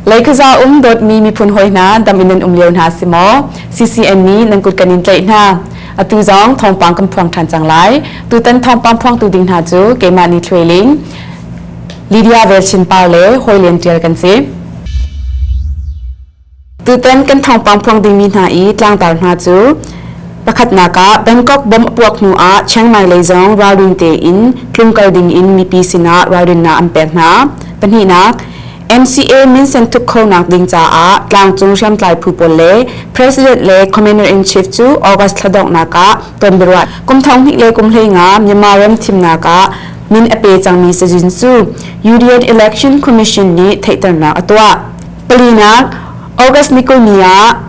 Leikhaza um dawtmi miphun hawi hna dam in nan um lio hna si maw CCN nih nan kut kan in tlaih hna atu zong thawngpang kan phuang ṭhan cang lai tutan thawngpang phuangtu ding hna cu keimah ni trailing Lydia Velchin Par le Hawi Lian Ṭial kan si Tutan kan thawngpang phuang dingmi hna i tlangtar hna cu pakhatnak ah Bangkok bomb a puak hnu ah Chiang Mai lei zong ralrin tein tlung kal dingin mipi sinah ralrinnak an pek hna. Pahnihnak, MCA minsen thuk khonak ding caah tlangcung hriamtlai phu pawl le President le Commander-in-Chief cu August thla donghnak ah ton biaruah. Kum thong hnih le kum hlei nga Myanmar ram thimnak ah min a pe cangmi Sajin Su, UDN Election Commission nih theihternak a tuah. Palinak, August ni kul ni ah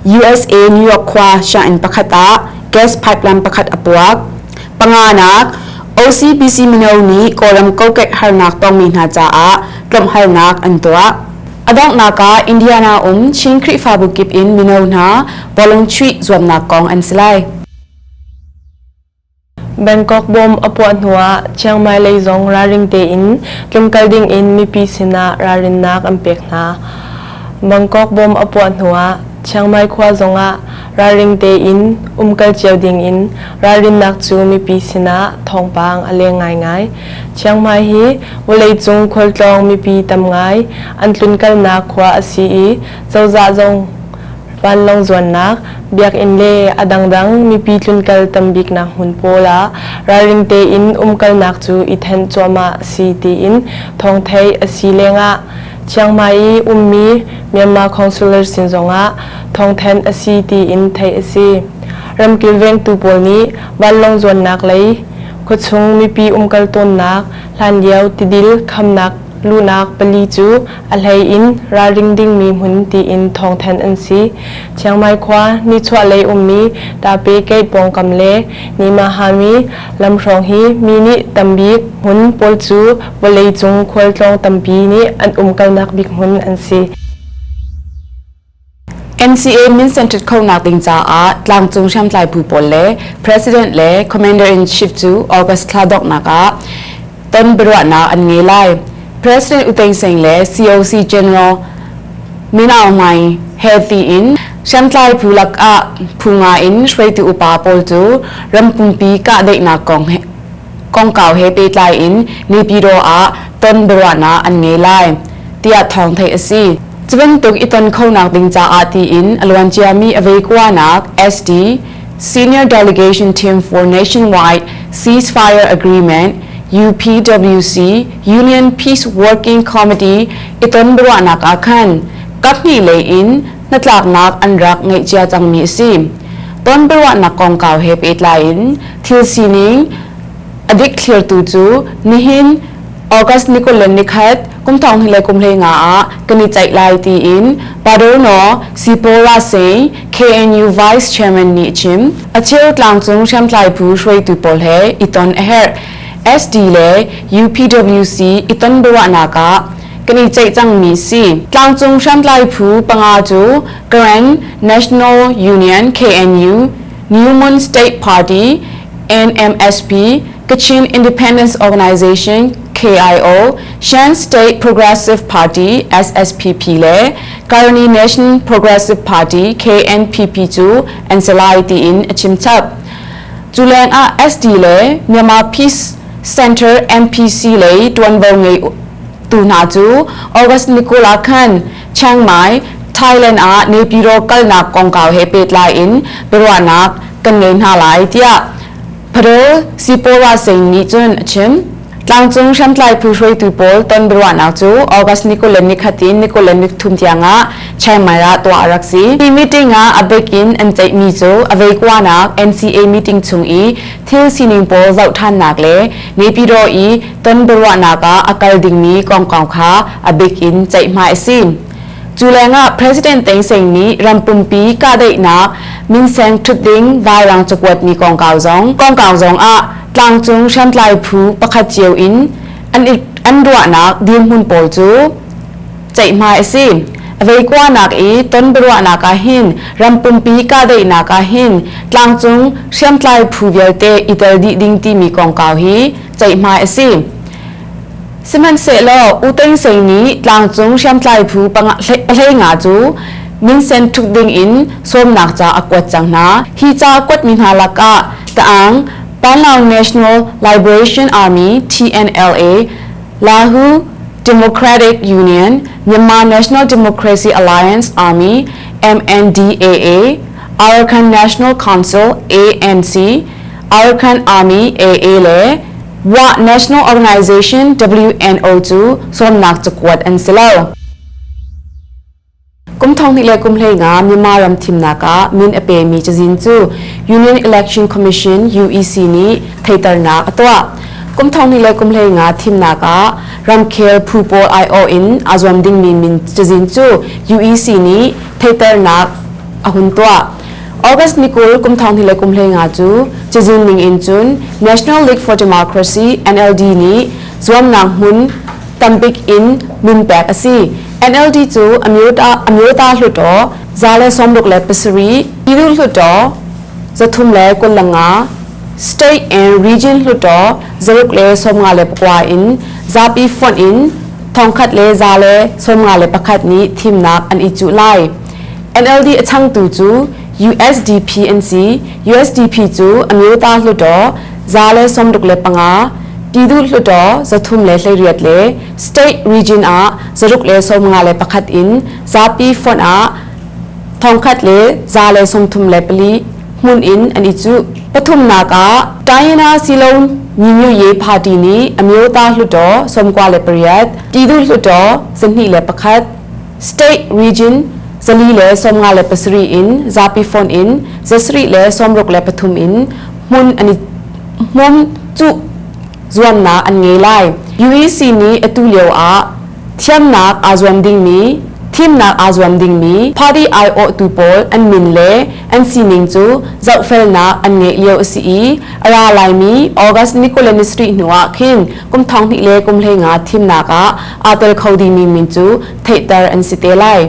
USA New York khua sianginn pakhat ah gas pipeline pakhat a puak. Panganak, OCPC mino nih Kawlram kokek harnak tongmi hna caah tlawmhalnak an tuah. Adonghnak ah Indiana um Chin Khrihfabu kip in mino hna bawlung chuih zuamnak kong an si lai. Bangkok bomb a puah hnuah Chiang Mai lei zong ralring tein tlung kal dingin mipi sinah ralrinnak an pek hna. Bangkok bomb a puah hnuah Chiang Mai khua zongah ralring tein um kal cio dingin ralrinnak cu mipi sinah thawngpang a leng ngaingai. Chiang Mai hi vawleicung khualtlawng mipi tam ngai an tlun kalnak khua a si i cozah zong vanlawng zuannak, biakinn le a dangdang mipi tlunkal tambiknak hmun pawl ah ralring tein umkalnak cu i thenh cuahmah a si tiin thawngtheih a si lengah Chiang Mai i ummi Myanmar Councillor sin zongah thawngthenh a si tiin theih a si. Ram kilvengtu pawl nih vanlawng zuannak lei khuachung mipi umkal tawnnak hlanlio tidil khamnak luhnak pali cu A hleiin ralring dingmi hmun tiin thawngthanh an si. Chiang Mai khua nichuahlei ummi Tape-Gate pawngkam le Nimahami lamhrawng hi mi nih tambik hmun pawl cu vawleicung khualtlawng tampi nih an umkalnak bik hmun an si. NCA Minsen ṭhit khonak ding caah tlangcung hriamtlai phu pawl le President le Commander-in-Chief cu August thla donghnak ah ton biaruahnak an ngei lai. President U Thein Sing le COC General Min Aung Hlaing he tiin hriamtlai phu lakah phu nga in hruaitu upa pawl cu rampumpi kahdaihnak kong he kongkau he pehtlai in Nipidaw ah ton biaruahnak an ngei lai, tiah thawng theih a si. Cu bantuk i ton khonak ding caah tiin a luanciami aveikuanak SD Senior Delegation Team for Nationwide Ceasefire Agreement UPWC Union Peace Working Committee i ton biaruahnak ah khan kaphnih lei in hnatlaknak an rak ngeih cia cangmi a si. Ton biaruahnak kongkau he pehtlai in Thil sining, A dik thlirtu cu nihin August ni kul le nikhat kum thonghnih le kum hleinga ah kan i ceih lai tiin Paderno Sipola Sein, KNU Vice Chairman nih a chim. A cheu tlangcung hriamtlaibu hruaitu pawl he i ton a herh. SD le UPWC i ton biaruahnak ah kan i ceih cangmi si. Tlangcung hriamtlai phu panga cu Karen National Union KNU Newman State Party, NMSP, Kachin Independence Organization, KIO, Shan State Progressive Party, SSPP, le Karni Nation Progressive Party, KNPP, cu an si lai tiin a chim chap. Cu leng ah SD le Myanmar Peace Center NPC lei tuanvo ngei tu hna cu August ni kul ah khan Chiang Mai, Thailand ah Nepiro kalnak kongkau he pehtlai in biaruahnak kan ngei hna lai tiah Padel Sipora Singh nih cun a chim. Tlangcung hriamtlai phu hruaitu pawl ton biaruahnak cu August ni kul le nikhatin ni kul le ni thum tiang ah Chiang Mai ah tuah a rak si. Hi meeting ah a bik in an ceihmi cu a veikuanak NCA meeting chung i thil sining pawl zohṭhannak le Nepiro i ton biaruahnak ah a kal dingmi kongkau kha a bik in ceihmai a si. Cu lengah President Thein Seng nih rampumpi kahdaihnak, minseng ṭhutding, vairang cakuatmi kongkau zong kongkau zong ah tlangcung hriamtlai phu pakhat cio in an an ruahnak dirhmun pawl cu ceihmai a si. Veikuanak i tonbiaruahnak ah hin rampumpi kahdaihnak ah hin tlangcung hriamtlai phu vialte i tel dih ding timi kongkau hi ceihmai a si. Sihmanhsehlaw U Tein Sein nih tlangcung hriamtlai phu hlenga cu minsen thuk ding in sawmnak ca a kuat cang hna. Hi ca kuatmi hna lakah Taang Panlao National Liberation Army TNLA Lahu Democratic Union, Myanmar National Democracy Alliance Army, MNDAA, Arakan National Council, ANC, Arakan Army, AA le Wa National Organization, WNO, cu sawmnak cakuat an si lo. Kum thonghnih le kum hleina Myanmar ram thimnak ah min a pemi cazin cu Union Election Commission UEC nih theiternak a tuah. Kum thonghnih le kum hleina thimnak ah ramkhel phu pawl aiawh in aa zuam dingmi min cazin cu UEC nih theiternak a hun tuah. August ni kul kum thonghnih le kum hleina cu cazin ning in cun National League for Democracy NLD nih zuamnak hmun tambik in min pek a si. NLD cu amyota hluttaw za le sawmruk le pasarih, Pinu hluttaw zathum le kullanga, state and region hluttaw zaruk le sawmnga le pakua in zapi fonh in thongkhat le za le sawmnga le pakhat nih thimnak an i cuh lai. NLD a changtu cu USDP an si. USDP cu amyota hluttaw za le sawmruk le panga, Pinu hluttaw zathum le hleiriat le State region ah zaruk le sawmnga le pakhat in zapi font ah thongkhat le za le songthum le pali hmun in an i cuh. Pathumnak ah China Silon Nyinyu party nih Amyota Hluttaw sawmkua le pariat, Tidu Hluttaw zanhnih le pakhat, State region zali le sawmnga le pasarih in zapi font in zasarih le sawmruk le pathum in hmun an i hmun cuh zuamnak an ngei lai. UEC nih atu lio ah thiamnak aa zuam dingmi, thimnak aa zuam dingmi party aiawhtu pawl an min le an sining cu zohfelnak an ngeih lio a si i a ra laimi August Nicolenis Rih hnu ah khin kum thong hnih le kum hlei nga thimnak ah aa tel kho dingmi min cu theihter an si te lai.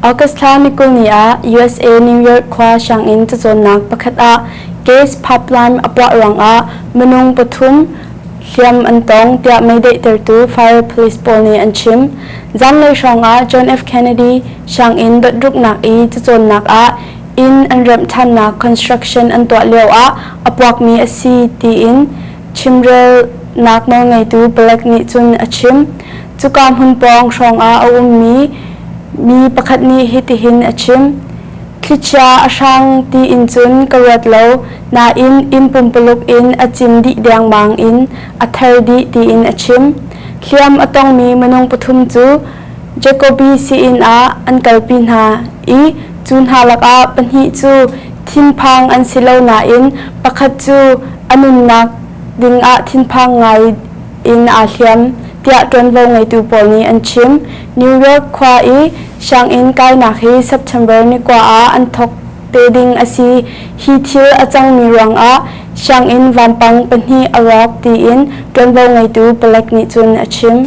August thla nikul ni ah USA New York khua sianginn cacawnnak pakhat ah case pipeline a puah ruangah minung pathum hliam an tong tiah meidaihtertu fire police pawl nih an chim. Zanlei hrawngah John F. Kennedy sianginn dotruknak i cacawnnak ah inn an remh ṭhannak construction an tuah lioah a puakmi a si tiin Chimrelnak nawlngeitu Black nih cun a chim. Cuka hmun pawng hrawngah a ummi mi pakhat nih hitihin a chim. Thlichia a hrang tiin cun ka ruat lo nain inn pumpuluk in a cin dih dengmang in a ther dih tiin a chim. Hliam a tongmi minung pathum cu Jacobi siin ah an kalpi hna i Cu hna lakah pahnih cu thinphang an si lo nain pakhat cu a nunnak dingah thinphang ngai in aa hliam, tiah ṭuanvo ngeitu pawl nih an chim. New York khua i sianginn kainak hi September ni kua ah an thawk te ding a si. Hi thil a cangmi ruangah sianginn vampang pahnih a rawk tiin ṭuanvo ngeitu palek nih cun a chim.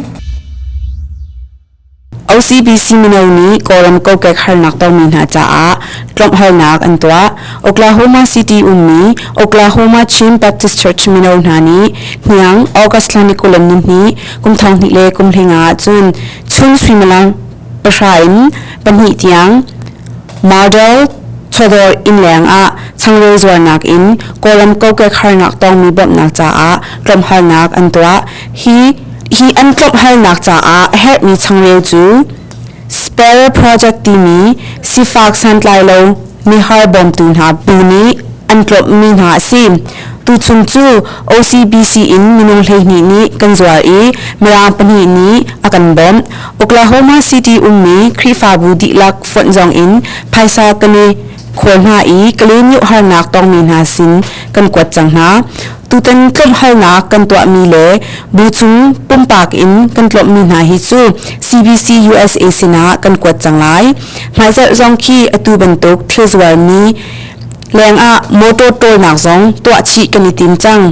OCBC mino nih Kawlram kokek harnak tongmi hna caah tlonghawlnak an tuah. Oklahoma City ummi Oklahoma Chin Baptist Church mino hna nih hniang August thla ni kulam nihni kum thong hnih le kum hlinga ahcun chun suimilam pahra in pahnih tiang Model chawdawr inn leng ah changreu zuarnak in Kawlram kokek harnak tongmi bawmhnak caah tlonghawlnak an tuah. Hi an tlawmhalnak caah a herhmi changreu cu spell project timi sifak santlailo mihar bawmtu hna bu nih an tlawmhmi hna a si. Tuchung cu OCBC in minung hleihnih nih kan zuar i mirang pahnih nih a kan bawmh. Oklahoma City ummi Khrihfabu dihlak fonh zong in phaisa kan i khual hna i ka len yo harnak tongmi hna sin kan kuat cang hna tutan tlawmh halnak kan tuahmi le bu chung pumpak in kan tlawmmi hna hi cu CBC USA sinah kan kuat cang lai hmaizelh zong khi atu bantuk thil zualmi lengah motor tolnak zong tuah chih kan i tim cang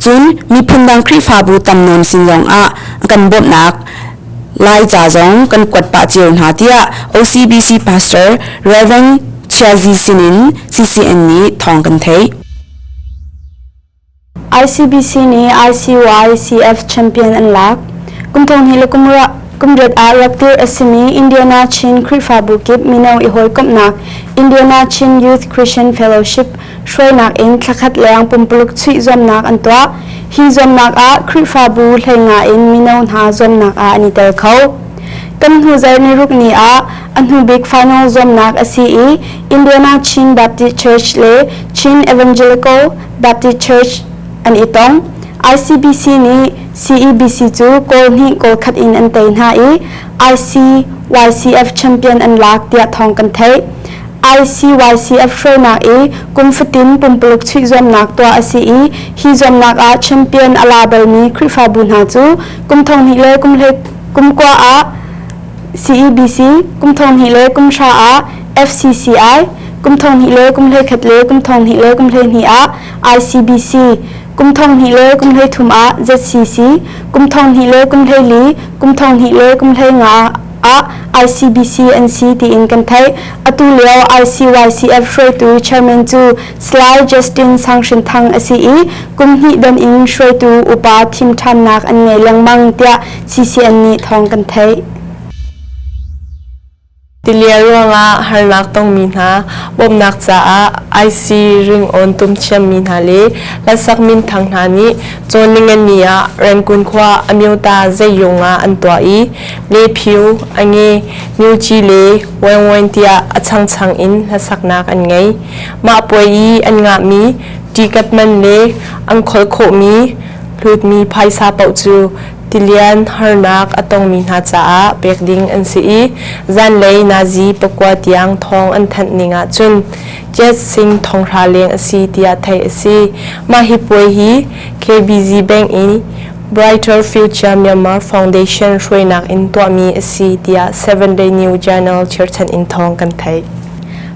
cun miphun dang khrihfabu tam nawn sin zong ah kan bawmhnak Laica zong kan kuat pah cio hna tiah OCBC Pastor Rev. Chiazi sinin CCN nih thawng kan theih. ICBC nih ICYCF champion an lak. Kum thong hi le kum ra kum riat ah rak tir asimi Indiana Chin Krifabu kip mino i hoi komnak Indiana Chin Youth Christian Fellowship hruainak in thlakhat leng pumpaluk chuih zuamnak an tuah. Hi zuamnak ah Khrihfabu hleinga in mino hna zuamnak ah an i tel kho. Kan hnu zar ni ruk ni ah a hnu bik final zuamnak a si i Indiana Chin Baptist Church le Chin Evangelical Baptist Church an i tong. ICBC nih CEBC cu goal hnih goal khat in an tei hna i ICYCF champion an lak tiah thawng kan theih. ICYCF hruainak i kum fatin pumpaluk chuih zuamnak tuah a si i hi zuamnak ah champion a la balmi Khrihfabu hna cu kum thonghnih le kum hlei kum kua ah CEBC, kum thonghnih le kum hra ah FCCI, kum thonghnih le kum hlei khat le kum thonghnih le kum hlei hnih ah ICBC, kum thonghnih le kum hlei thum ah ZCC, kum thonghnih le kum hlei li, kum thonghnih le kum hlei nga ah ICBC an si tiin kan theih. Atu lio ICYCF hruaitu chairman cu Salai Justin Sang Hrin Thang a si i kum hnih don in hruaitu upa thim ṭhannak an ngei lengmang tiah CCN nih thawng kan theih. Tilia ruangah harnak tongmi hna, bawmhnak caah IC ring on tum thiammi hna le Lalsak Min Thang hna nih Cawnlingan ni ah Rengkun khua Amyota zeiyung ah an tuah i lephiu ange myuci le waingwain tiah a changchang in hlasaknak an ngei mah puai i an ngahmi ticket man le an khol khawhmi hlutmi phaisa paoh cu tilian harnak a tongmi hna caah pek ding an si i zanlei nazi pakua tiang thawng an thanh ning ah cun Jet Singh thonghra leng a si tiah theih a si mah hi puai hi KBC bank in Brighter Future Myanmar Foundation hruainak in tuahmi a si tiah Seven Day New Journal cherhchanh in thawng kan theih.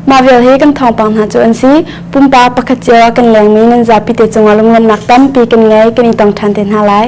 Mah vial hi kan thawngpang hna cu an si. Pumpak pakhat cio ah kan lengmi nan zapite cungah lungruannak tampi kan ngei kan i tong ṭhan te hna lai.